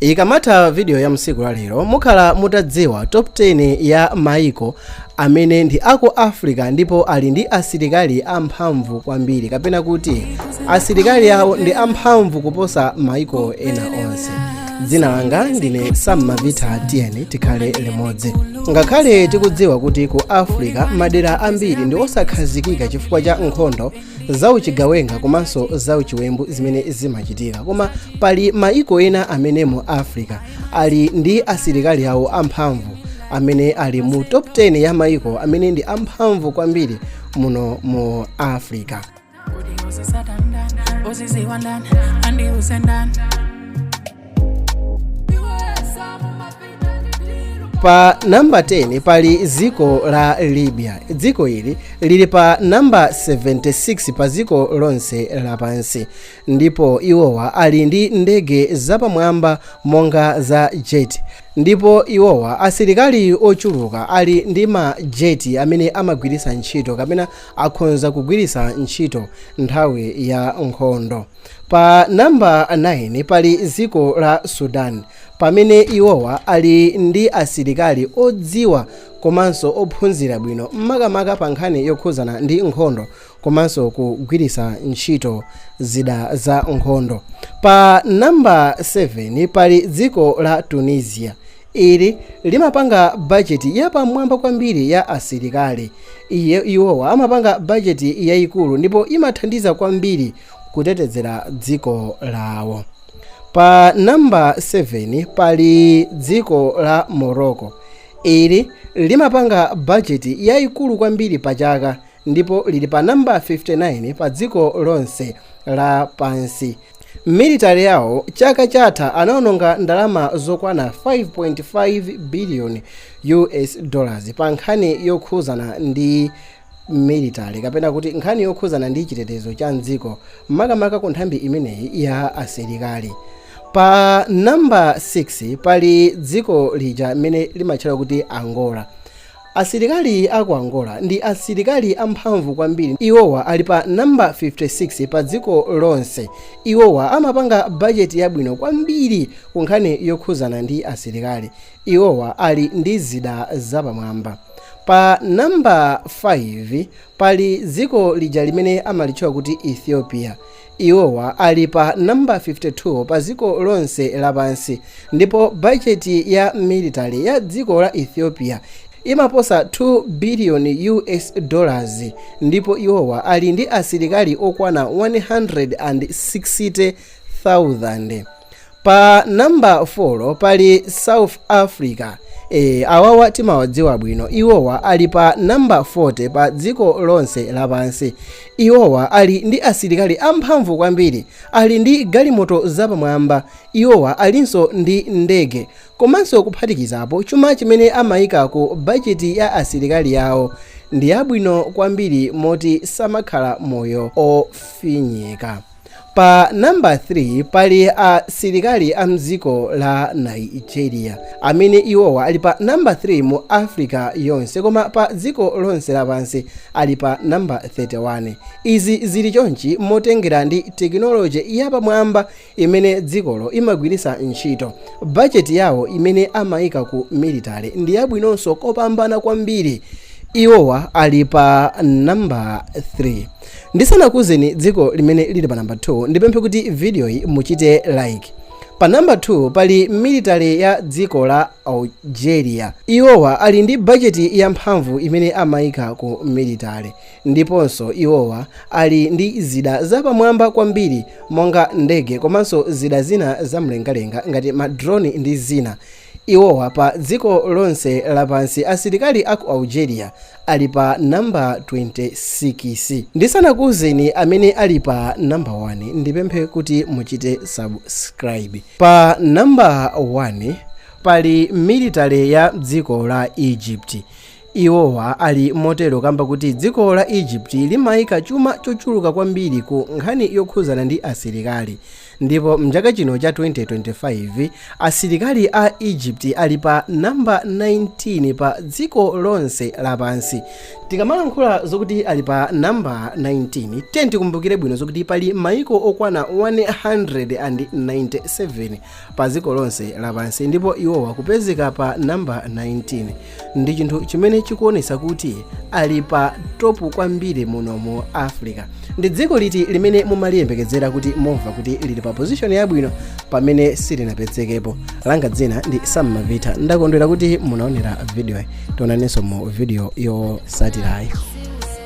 Ikamatha video ya tsiku la lero mukhala mutadziwa top 10 ya maiko amene ndi aku Africa ndipo ali ndi asilikali amphamvu kwambiri kapena kuti asilikali awo ndi amphamvu kuposa maiko ena onse. Dzina langa ndine Sam Mavita tiyeni tikhale limodzi. Ngakhale tikudziwa kuti ku Africa madera ambiri ndi osakhazikika chifukwa cha nkhondo za uchigawenga komanso za uchiwembu zimene zimachitika koma pali maiko ena amene mu africa ali ndi asilikali awo amphamvu amene ali mu top 10 ya maiko amene ndi amphamvu kwambiri muno mu africa pa namba 10 pali dziko la libya dziko ili lili pa namba 76 pa dziko lonse lapansi ndipo iwowa ali ndi ndege zapamwamba monga za jet ndipo iwowa asilikali ochuluka ali ndi ma jet amene amagwiritsa ntchito kapena akhonza kugwiritsa ntchito nthawi ya nkhondo pa namba 9 pali dziko la sudan pamene iwowa ali ndi asilikali odziwa komanso ophunzira bwino makamaka pa nkhani yokhuzana ndi nkhondo komanso kugwiritsa ntchito zida za nkhondo pa namba 7 pali dziko la tunisia ili limapanga bajeti yapamwamba kwambiri ya asilikali iwowa amapanga bajeti yayikulu ndipo imathandiza kwambiri kutetezera dziko lawo. Pa number 7 pali dziko la Morocco. Ili limapanga budget yaikulu kwambiri pa chaka ndipo lili pa number 59 pa dziko lonse la pansi. Military yawo chaka chatha anaononga ndalama zokwana 5.5 billion US dollars pa nkhani yokhuzana ndi military kapena kuti nkhani yokhuzana ndi chitetezo cha mdziko makamaka ku nthambi imeneyi ya asilikali pa namba 6 pali dziko lija limene limatchedwa kuti angola asilikali aku angola ndi asilikali amphamvu kwambiri iwowa ali pa namba 56 pa dziko lonse iwowa amapanga bajeti yabwino kwambiri ku nkhani yokhuzana ndi asilikali Iwowa ali ndi zida zapamwamba. Pa namba 5 pali dziko lija limene amalitchula kuti Ethiopia. Iwowa ali pa namba 52 pa dziko lonse lapansi ndipo bajeti ya military ya dziko la Ethiopia imaposa 2 biliyoni US dollars ndipo iwowa ali ndi asilikali okwana 160,000. pa namba 4 pali south africa awawa timawadziwa bwino iwowa ali pa namba 40 pa dziko lonse lapansi iwowa ali ndi asilikali amphamvu kwambiri ali ndi galimoto zapamwamba iwowa alinso ndi ndege komanso kuphatikizapo chuma chimene amayika ku bajeti ya asilikali yawo ndi yabwino kwambiri moti samakhala moyo ofinyika Pa namba 3 pali asilikali a mdziko la Nigeria, amene iwowa ali pa namba 3 mu Africa yonse, koma pa dziko lonse lapansi ali pa namba 31. Izi zili chonchi motengera ndi tekinoloje yapamwamba imene dzikolo imagwiritsa ntchito. Bajeti yawo imene amaika ku military ndi yabwinonso kopambana kwambiri. Iwowa ali pa namba 3. Ndisanakuuzeni dziko limene lili pa number 2, ndipemphe kuti videoyi muchite like. Pa number 2 pali military ya dziko la Algeria. Iwowa ali ndi budget ya mphamvu imene amaika ku military. Ndiponso iwowa ali ndi zida zapamwamba kwambiri monga ndege komanso zida zina zamlengalenga ngati ma drone ndi zina. Iwowa pa dziko lonse lapansi asilikali aku Algeria ali pa number 26. Ndisanakuuzeni amene ali pa number 1 ndipemphe kuti muchite subscribe. Pa number 1 pali military ya dziko la Egypt. Iwowa ali motero kamba kuti dziko la Egypt limaika chuma chochuluka kwambiri ku nkhani yokhuzana ndi asilikali ndipo mchaka chino cha 2025 asilikali a Egypt ali pa number 19 pa dziko lonse lapansi. Tikamalankhula zokuti ali pa number 19 then tikumbukire bwino zokuti pali maiko okwana 197 pa dziko lonse lapansi ndipo iwowa kupezeka pa number 19. ndi chinthu chimene chikuonesa kuti ali pa topu kwambiri muno mu africa ndi dziko liti limene mumaliyembekezera kuti mumva kuti lili pa pozishoni yabwino pamene silinapezekepo langa dzina ndi sam mavita ndakondwera kuti munaonera vidiyo tionanenso mu vidiyo yotsatirayi